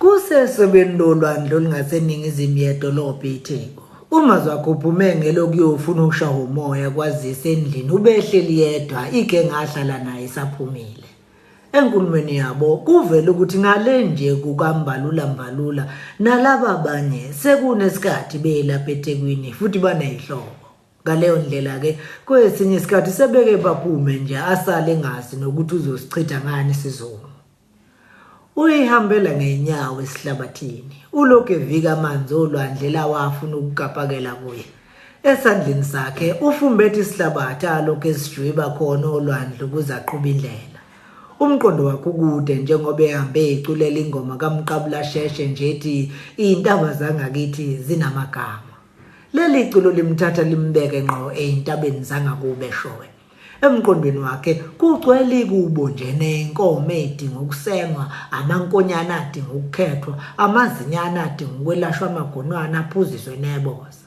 Kusesokweni lolwandle olungaseningizimu yedolobha iTheku, uMazwakhe uphume ngelokuyofuna ukushawa umoya kwazise endlini ubehleli yedwa igenga ahlala nayo isaphumile. Enkulumweni yabo kuvele ukuthi ngale nje kukaMbalula Mbalula nalaba abanye sekunesikhathi belapha eThekwini futhi banezihlobo. Ngaleyo ndlela-ke kwesinye isikhathi sebeke baphume nje asale engazi nokuthi uzosichitha ngani isizungu. Uyihambela ngeenyawo esihlabathini, ulokhu evika amanzi olwandle lawa afuna ukukapakela kuye. Esandleni sakhe ufumbethe isihlabathi alokhu esijwiba khona olwandle ukuze aqhube indlela. Umqondo wakhe ukude njengoba ehambe eculela ingoma kaMqabula Sheshe nje ethi iy'ntaba zangakithi zinamagama. Leli culo limthatha limbeke ngqo ey'ntabeni zangakubo eshowe. Emqondweni wakhe kugcwele ikubo nje nenkomo edinga ukusengwa, amankonyana adinga ukukhethwa, amazinyane adinga ukwelashwa amagonwane aphuziswe neboza.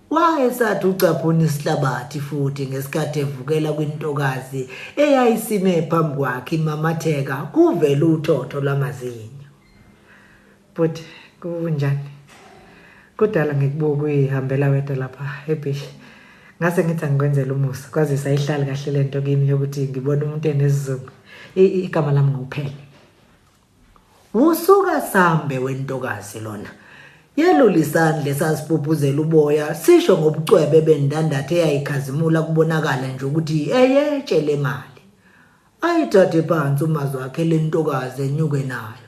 Wayesathi ucaphuna isihlabathi futhi ngesikhathi evukela kwintokazi eyayisime phambi kwakhe imamatheka kuvele uthotho lwamazinyo. But kunjani? Kudala ngikubuka uyihambela wedwa lapha ebeach. Ngase ngithi angikwenzela umusa kwazisa ihlali kahle lento kimi yokuthi ngibona umuntu enesizungu. Igama lami ngokuphela. Usuka sambe wentokazi lona. Yelula isandla esasibhubhuzela uboya sisho ngobucwebe bendandathe eyayikhazimula kubonakala nje ukuthi eyetshe le mali. Ayithathe phansi umazwi wakhe lentokazi enyuke nayo.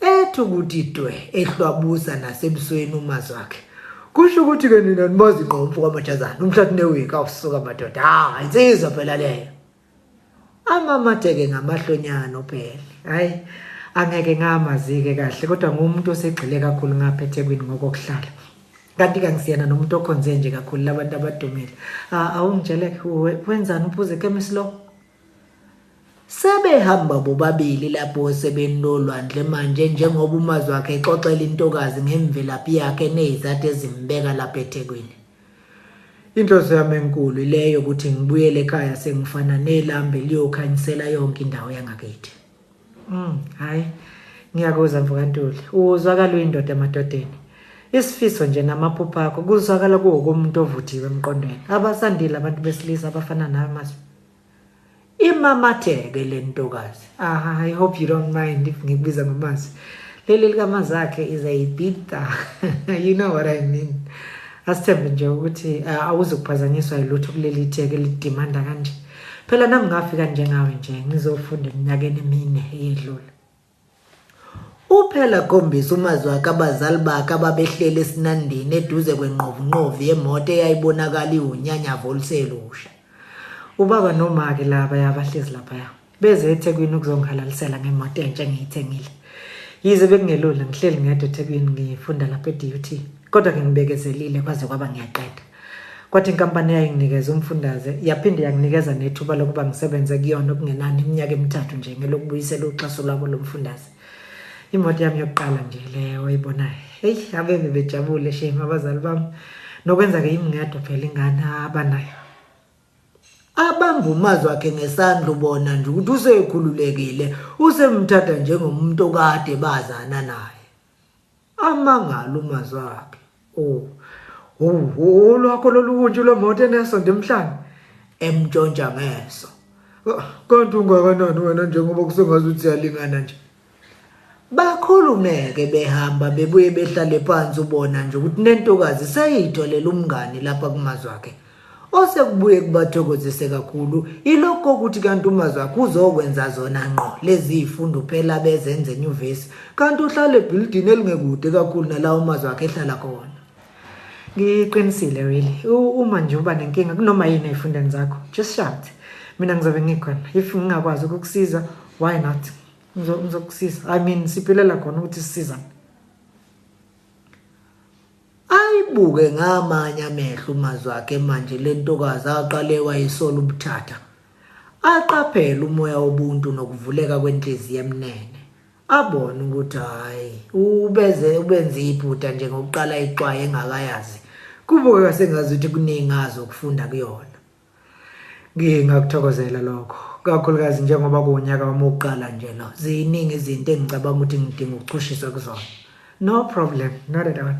Ethi ukuthi dwe ehlwabusa nasebusweni umazi wakhe. Kusho ukuthi ke nina nimazi ngqo umfo kamajazana umhlathi newiki awusuka madoda. Hayi insizwa phela leyo. Amamateke ngamahlonyana uphele. Hayi angeke ngamazike kahle kodwa ngumuntu osegxile kakhulu ngapha eThekwini ngokokuhlala kanti kangisiyena nomuntu okhonze nje kakhulu labantu abadumile awungitsheleke wenzani uphuze chemist lo Sebehamba bobabili lapho osebeni lolwandle manje njengoba umazi wakhe exoxela intokazi ngemvelaphi yakhe enezizathu ezimbeka lapha eThekwini. Inhloso yami enkulu ileyo ukuthi ngibuyele ekhaya sengifana nelambe liyokhanyisela yonke indawo yangakithi. Mm, hayi. Ngiyakuzwa mfokantuli. Uzwakala uyindoda emadodeni. Isifiso nje namaphupho akho kuzwakala kuwokomuntu ovuthiwe emqondweni. Abasandile abantu besilisa abafana nawe Masu. imamatheke le ntokazi ah, i hope you don't mind if ngikubiza ngamazi leli likamazi akhe is a bita you know what i mean asithembe nje ukuthi uh, awuzukuphazanyiswa yilutho kuleli theke lidimanda kanje phela nami ngafika njengawe nje ngizofunda eminyakeni emine eyedlule Uphela akhombisa umazwi wakhe abazali bakhe ababehleli esinandini eduze kwenqovunqovu yemoto eyayibonakala iwunyanyavu oluselusha. Ubaba nomake laba yabahlezi laphaya beze eThekwini ukuzongihalalisela ngemoto entsha engiyithengile. Yize bekungelula ngihleli ngedwa eThekwini ngifunda lapha eDUT kodwa ke ngibekezelile kwaze kwaba ngiyaqeda. Kwathi inkampani eyayinginikeza umfundaze yaphinde yanginikeza nethuba lokuba ngisebenze kuyona okungenani iminyaka emithathu nje ngelokubuyisela uxhaso lwabo lomfundaze. Imoto yami yokuqala nje leyo oyibonayo. Hey, abebe bejabule shame abazali bami. Nokwenza ke yimi ngedwa phela ingane abanayo. Abangumazwi wakhe ngesandla ubona nje ukuthi usekhululekile, usemthatha njengomuntu okade bazana naye. Amangala uMazakhe. Oh. Oh, lwakho lolunje lwemoto enesonto emhlanje emntshontsha ngeso. Kanti ungakanani wena njengoba kusengazi uthi siyalingana nje. Bakhulumeke behamba bebuye behlale phansi ubona nje ukuthi nentokazi seyitholela umngani lapha kumazwakhe. Osekubuye kubathokozise kakhulu ilokho kokuthi kanti uMazi wakhe uzokwenza zona ngqo lezi zifundo phela bezenza enyuvesi kanti uhlala ebhilidini elingekude kakhulu nala uMazi wakhe ehlala khona. Ngiqinisile really. Uma nje uba nenkinga kunoma yini ezifundweni zakho, just shout. Mina ngizobe ngikhona. If ngingakwazi ukukusiza, why not? Ngizokusiza. I mean siphilela khona ukuthi sisizane. Ayibuke ngamanye amehlo uMazwakhe manje le ntokazi aqale wayisola ubuthatha. Aqaphele umoya wobuntu nokuvuleka kwenhliziyo emnene. Abone ukuthi hhayi ubeze ubenze iphutha nje ngokuqala ixwaye engakayazi. Kubukeka sengazuthi kuningi azi ukufunda kuyona. Ngingakuthokozela lokho kakhulukazi njengoba kuwunyaka wami wokuqala nje lo ziningi izinto engicabanga ukuthi ngidinga ukuchushiswa kuzona no problem not at all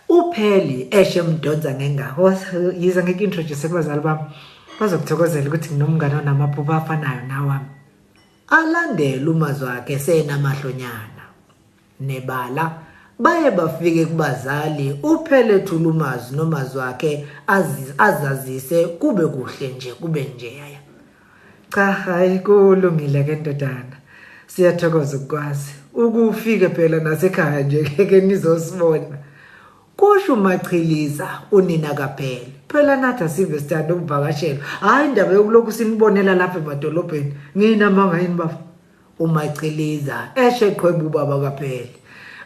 upheli eshe mdonsa ngengako yize ngeke introduce kubazali bami bazokuthokozela ukuthi nginomngane onamaphupho afanayo nawami alandele umazwi wakhe senamahlonyana Nebala, baye bafike kubazali uphele thulumazi nomazi wakhe azazise kube kuhle nje kube njeya. Cha hayi kulungile ke ndodana. Siyathokoza ukukwazi. Ukufike phela nasekhaya nje ke nizosibona. Kusho umachiliza unina kaphele. Phela nathi asive sithanda ukuvakashelwa. Hayi indaba yokulokhu sinibonela lapha emadolobheni. Nginamanga yini baba? umaciliza eshe qhweba ubaba kaphele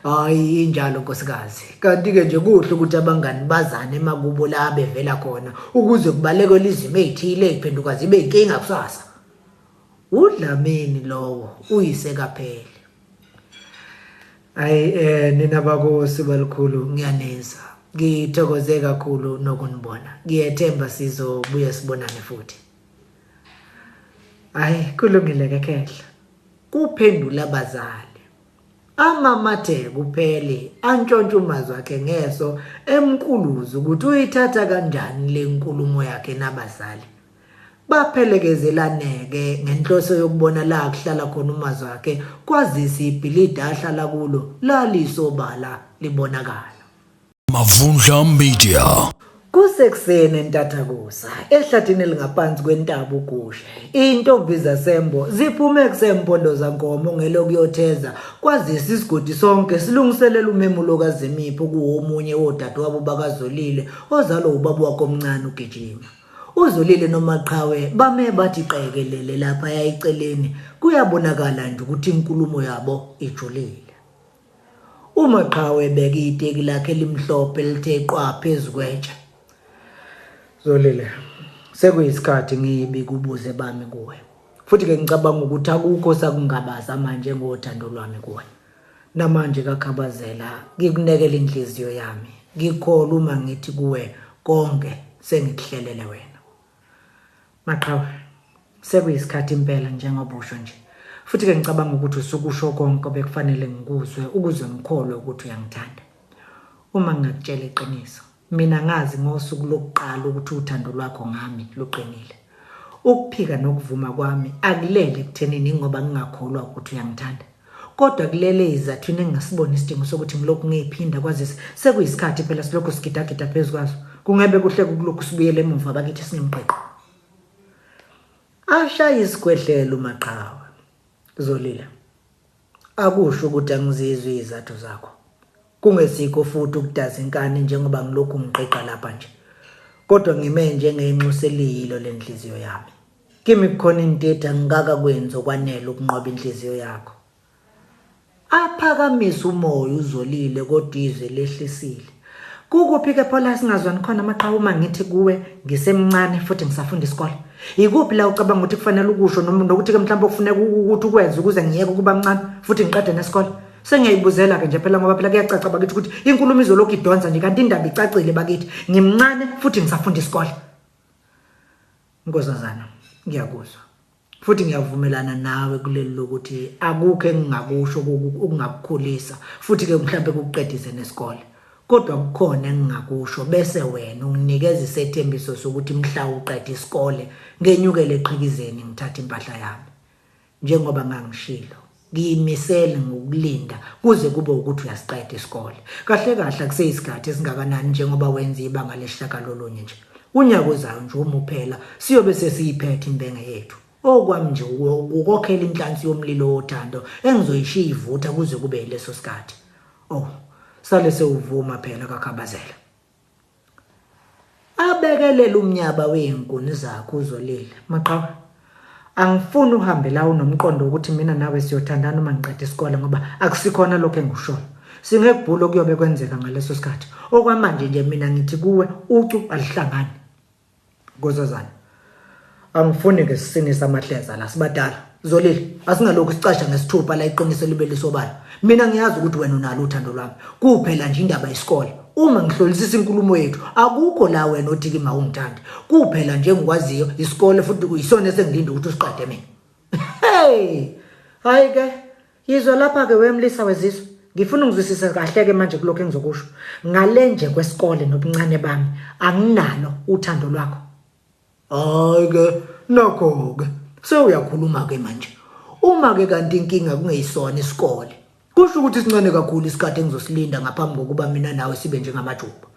hayi injalo nkosikazi kanti-ke nje kuhle ukuthi abangani bazane emakubo la bevela khona ukuze kubalekwe lizimo ey'thile ey'phenduka zibe yinkinga kusasa udlamini lowo uyise kaphele hayi um eh, nina bakosi balikhulu ngiyaneza ngithokoze kakhulu nokunibona ngiyethemba sizobuye sibonane futhi hayi kulungile ke khehla kuphendula abazali amamathe kuphele antshontshe umazi wakhe ngeso emkuluza ukuthi uyithatha kanjani le nkulumo yakhe nabazali baphelekezelaneke ngenhloso yokubona la kuhlala khona umazi wakhe kwazise ibhilidi ahlala kulo lalisobala libonakala Mavundla Media. Kusekuseni entathakusa ehlathini elingaphansi kwentaba uGushe intombi zasembo ziphume kusempondloza nkomo ngelokuyotheza kwazisa isigodi sonke silungiselela umemulo kaZimipho kuwomunye wodadewabo bakaZolile ozalwa ubaba wakhe omncane uGijima uZolile nomaqhawe bame bathi qekelele lapha yayiceleni kuyabonakala nje ukuthi inkulumo yabo ijulile UMaqhawe ebeke iteki lakhe elimhlophe elithe qwa phezu kwetshe. Zolile, sekuyisikhathi ngibi kubuze bami kuwe. Futhi-ke ngicabanga ukuthi akukho sakungabaza manje ngothando lwami kuwe. Namanje kakhabazela, ngikunekela inhliziyo yami. Ngikholwa uma ngithi kuwe konke sengikuhlelele wena. Maqhawe, sekuyisikhathi impela njengoba usho nje. Futhi-ke ngicabanga ukuthi usukusho konke obekufanele ngikuzwe ukuze ngikholwe ukuthi uyangithanda. Uma ngingakutshela iqiniso, mina ngazi ngosuku lokuqala ukuthi uthando lwakho ngami luqinile. Ukuphika nokuvuma kwami akulele ekuthenini ingoba ngingakholwa ukuthi uyangithanda. Kodwa kulele izathu yini engingasiboni isidingo sokuthi ngilokhu ngiyiphinda kwazise sekuyisikhathi phela silokhu sigidagida phezu kwazo. Kungebe kuhle kukulokhu sibuyele emuva bakithi sinemqiqo. Ashaya isigwedlelo umaqhawe. Zolile. Akusho ukuthi angizizwe izathu zakho. Kungesikho futhi ukudaza inkani njengoba ngilokhu ngiqiqa lapha nje. Kodwa ngime njengenxuseliyilo lenhliziyo yami. Kimi kukhona intete angikaka kwenzi okwanele ukunqoba inhliziyo yakho. Aphakamisa umoya uzolile kodwa izwe lehlisile. Kukuphi ke phola singazwani khona maqhawe uma ngithi kuwe ngisemncane futhi ngisafunda isikole? Yikuphi la ucabanga ukuthi kufanele ukusho noma nokuthi ke mhlawumbe kufuneka ukuthi ukwenze ukuze ngiyeke ukuba mncane futhi ngiqede nesikole? Sengiyayibuzela-ke nje phela ngoba phela kuyacaca bakithi ukuthi inkulumo izolokhu idonsa nje kanti indaba icacile bakithi. Ngimncane futhi ngisafunda isikole. Nkosazana, ngiyakuzwa. Futhi ngiyavumelana nawe kuleli lokuthi akukho engingakusho okungakukhulisa futhi ke mhlambe kukuqedise nesikole. Kodwa kukhona engingakusho bese wena unginikeza isethembiso sokuthi mhla uqeda isikole ngenyukele eqhikizeni ngithathe impahla yami. Njengoba ngangishilo, ngiyimisele ngokulinda kuze kube ukuthi uyasiqeda isikole. Kahle kahle akuseyisikhathi esingakanani njengoba wenza ibanga lesishagalolunye nje. Unyaka ozayo nje uma uphela siyobe sesiyiphethe imbenge yethu. Okwami nje ukukokhela inhlansi yomlilo wothando engizoyishiya ivutha kuze kube yileso sikhathi. Oh, sale sewuvuma phela kaKhabazela. abekelele umnyaba wezinkuni zakho uzolila maqhawe angifuni uhambe la unomqondo ukuthi mina nawe siyothandana uma ngiqeda isikole ngoba akusikhona lokho engikushoyo singekubhula okuyobe kwenzeka ngaleso sikhathi okwamanje nje mina ngithi kuwe ucu alihlangani Nkosazana. Angifuni ke sisinisa amahleza la sibadala. Zolile, asingalokhu sicasha ngesithupha la iqiniso libe lisobala. Mina ngiyazi ukuthi wena unalo uthando lwami. Kuphela nje indaba yesikole. Uma ngihlolisisa inkulumo yethu, akukho la wena othi kimi awungithandi. Kuphela nje engikwaziyo isikole futhi kuyisona esengilinda ukuthi usiqede mina. Hey! Hayi ke, Yizwa lapha-ke wemlisa wezizwe ngifuna ungizwisise kahle-ke manje kulokhu engizokusho ngale nje kwesikole nobuncane bami anginalo uthando lwakho hhayi-ke nakho-ke sewuyakhuluma-ke manje uma-ke kanti inkinga kungeyisona isikole kusho ukuthi sincane kakhulu isikhathi engizosilinda ngaphambi kokuba mina nawe sibe njengamajuba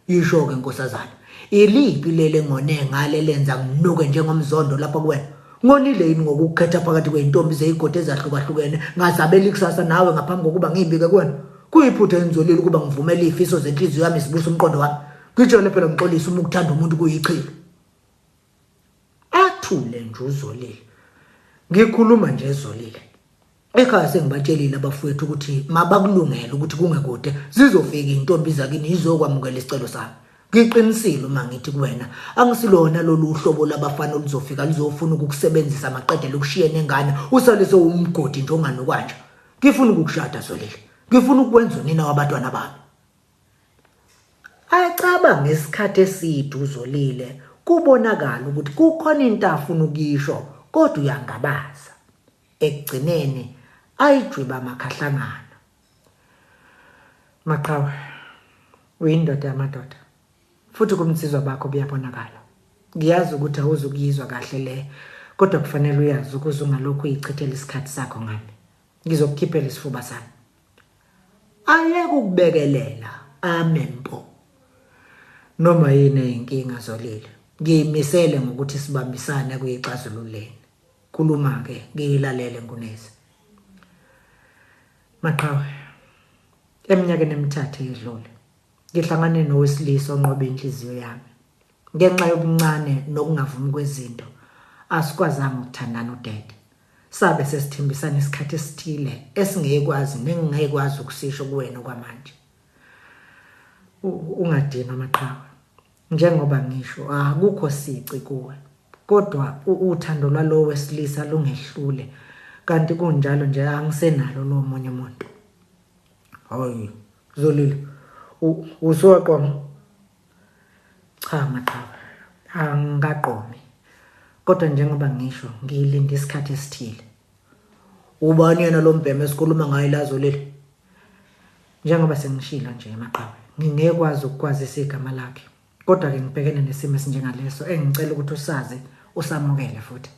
Yisho-ke nkosazana, iliphi leli engone ngalo elenza nginuke njengomzondo lapha kuwena? Ngonile yini ngokukukhetha phakathi kwey'ntombi zey'godi ezahlukahlukene ngazabela ikusasa nawe ngaphambi kokuba ngiyibike kuwena? Kuyiphutha engizolile ukuba ngivumele iy'fiso zenhliziyo yami zibusa umqondo wami. Ngitshele phela ngixolise uma ukuthanda umuntu kuyichilo. Athule nje uzolile. Ngikhuluma nje ezolile. Ekhaya sengibatshelile abafowethu ukuthi mabakulungele ukuthi kungekude zizofika intombi zakini izokwamukela isicelo sami. Ngiqinisile uma ngithi kuwena angisilona lolu uhlobo labafana oluzofika luzofuna ukukusebenzisa maqedela ukushiye nengane usale sewumgodi nje onganokwanjwa. Ngifuna ukukushada Zolile. Ngifuna ukwenza unina wabatwana bami. Acaba ngesikhathi eside uzolile kubonakala ukuthi kukhona into afuna ukuyisho kodwa uyangabaza. Ekugcineni ayijwiba amakhahlangana. Maqhawe, uyindoda yamadoda futhi kubunsizwa bakho buyabonakala. Ngiyazi ukuthi awuzukuyizwa kahle le kodwa kufanele uyazi ukuze ungalokhu uyichithela isikhathi sakho ngami. ngizokukhiphela isifuba sami ayeke ukubekelela amen mpo noma yini eyinkinga zolile ngiyimisele ngokuthi sibambisane kuyixazululeni khuluma ke ngiyilalele ngunezi maqhawe eminyakeni emithathu edlule ngihlangane nowesilisa onqobe inhliziyo yami ngenxa yobuncane nokungavumi kwezinto asikwazanga ukuthandana udede Sabe sesithembisana isikhathi esithile esingekwazi nengingekwazi ukusisho kuwena okwamanje. Ungadinwa maqhawe. Njengoba ngisho akukho sici kuwe. Kodwa uthando lwalowo wesilisa lungehlule kanti kunjalo nje angisenalo lo munye umuntu. Hayi, Zolile. Usuwaqoma. Cha maqaba angikaqomi kodwa njengoba ngisho ngiyilinde isikhathi esithile. Ubani yena lo mbhema esikhuluma ngaye lazo leli? Njengoba sengishilo nje maqaba ngingekwazi ukukwazisa igama lakhe kodwa ke ngibhekene nesimo esinjengaleso engicela ukuthi usazi usamukele futhi.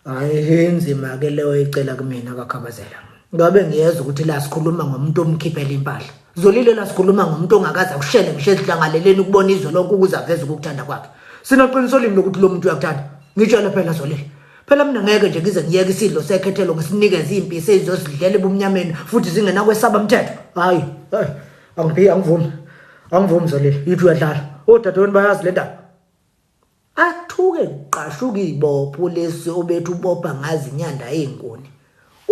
hayi inzima ke leyo icela kumina kakhabazela ngabe ngiyeza ukuthi la sikhuluma ngomuntu omkhiphela impahla zolile la sikhuluma ngomuntu ongakaze akushele ngisho ezihlangaleleni ukubona izwe lonke ukuze aveze ukukuthanda kwakhe sinoqiniso limi lokuthi lo muntu uyakuthanda ngitshele phela zolile phela mina ngeke nje ngize ngiyeke isidlo sekhethelo ngisinikeze impi sezizozidlela ebumnyameni futhi zingena kwesaba umthetho hayi hayi angiphi angivumi angivumi zolile yithi uyadlala odadewenu bayazi le ndaba Athuke kuqashuka ibopho lesi obethi ubopha ngazi inyanda eyinkuni.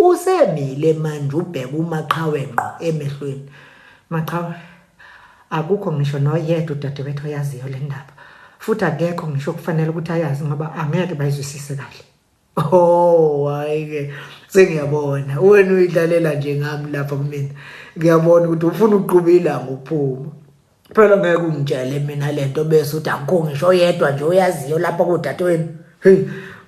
Usemile manje ubheka uMaqhawe ngqo emehlweni. Maqhawe, akukho ngisho noyedwa udadewethu oyaziyo lendaba. Futhi akekho ngisho okufanele ukuthi ayazi ngoba angeke bayizwisise kahle. Oh hayi ke sengiyabona wena uyidlalela nje ngami lapha kumina ngiyabona ukuthi ufuna uqhuba ilanga uphuma phela ngeke ungitshele mina lento bese uthi akukho ngisho yedwa nje oyaziyo lapha kodadewenu hey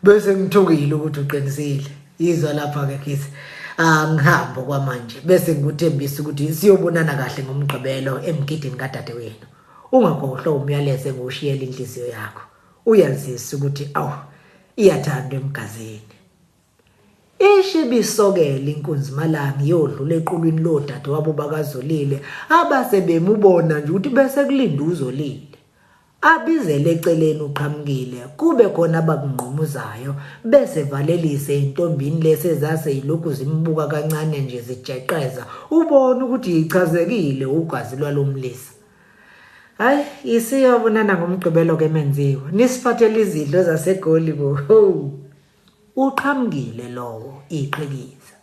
bese ngithukile ukuthi uqinisile izwa lapha ke kithi angihambo kwamanje bese ngikuthembisa ukuthi siyobonana kahle ngomgqibelo emgidini kadadewenu ungakhohlwa umyalezo engiwushiyela inhliziyo yakho uyazisa ukuthi awu Iyathandwa emgazini. Ishi bisokela inkunzi malanga iyodlula equlwini lodade wabo bakazolile abase bemubona nje ukuthi bese kulinda uzolile. Abizele eceleni uqhamukile kube khona abakungqumuzayo bese valelise intombini lese zase yilokhu zimbuka kancane nje zijeqeza ubona ukuthi yichazekile ugazi lwalomlisa. Hayi isiyobonana ngomgqibelo ke menziwa. Nisiphathele izidlo zasegoli bo. Uqhamukile lowo iqhikiza.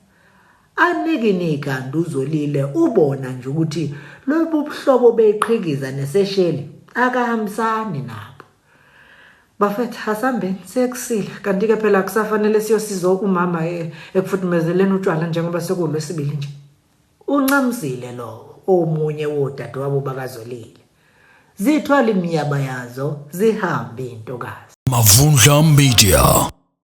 Aniki nikanti uzolile ubona nje ukuthi lobu buhlobo beqhikiza nesesheli akahambisani nabo. Bafethu hasambeni sekusile kanti ke phela kusafanele siyosiza umama eh, ekufuthumezeleni utshwala njengoba sekulwesibili nje. Unxamzile lowo omunye wodadewabo bakaZwelile. Zithwale imiyaba yazo zihambe intokazi. Mavundla Media.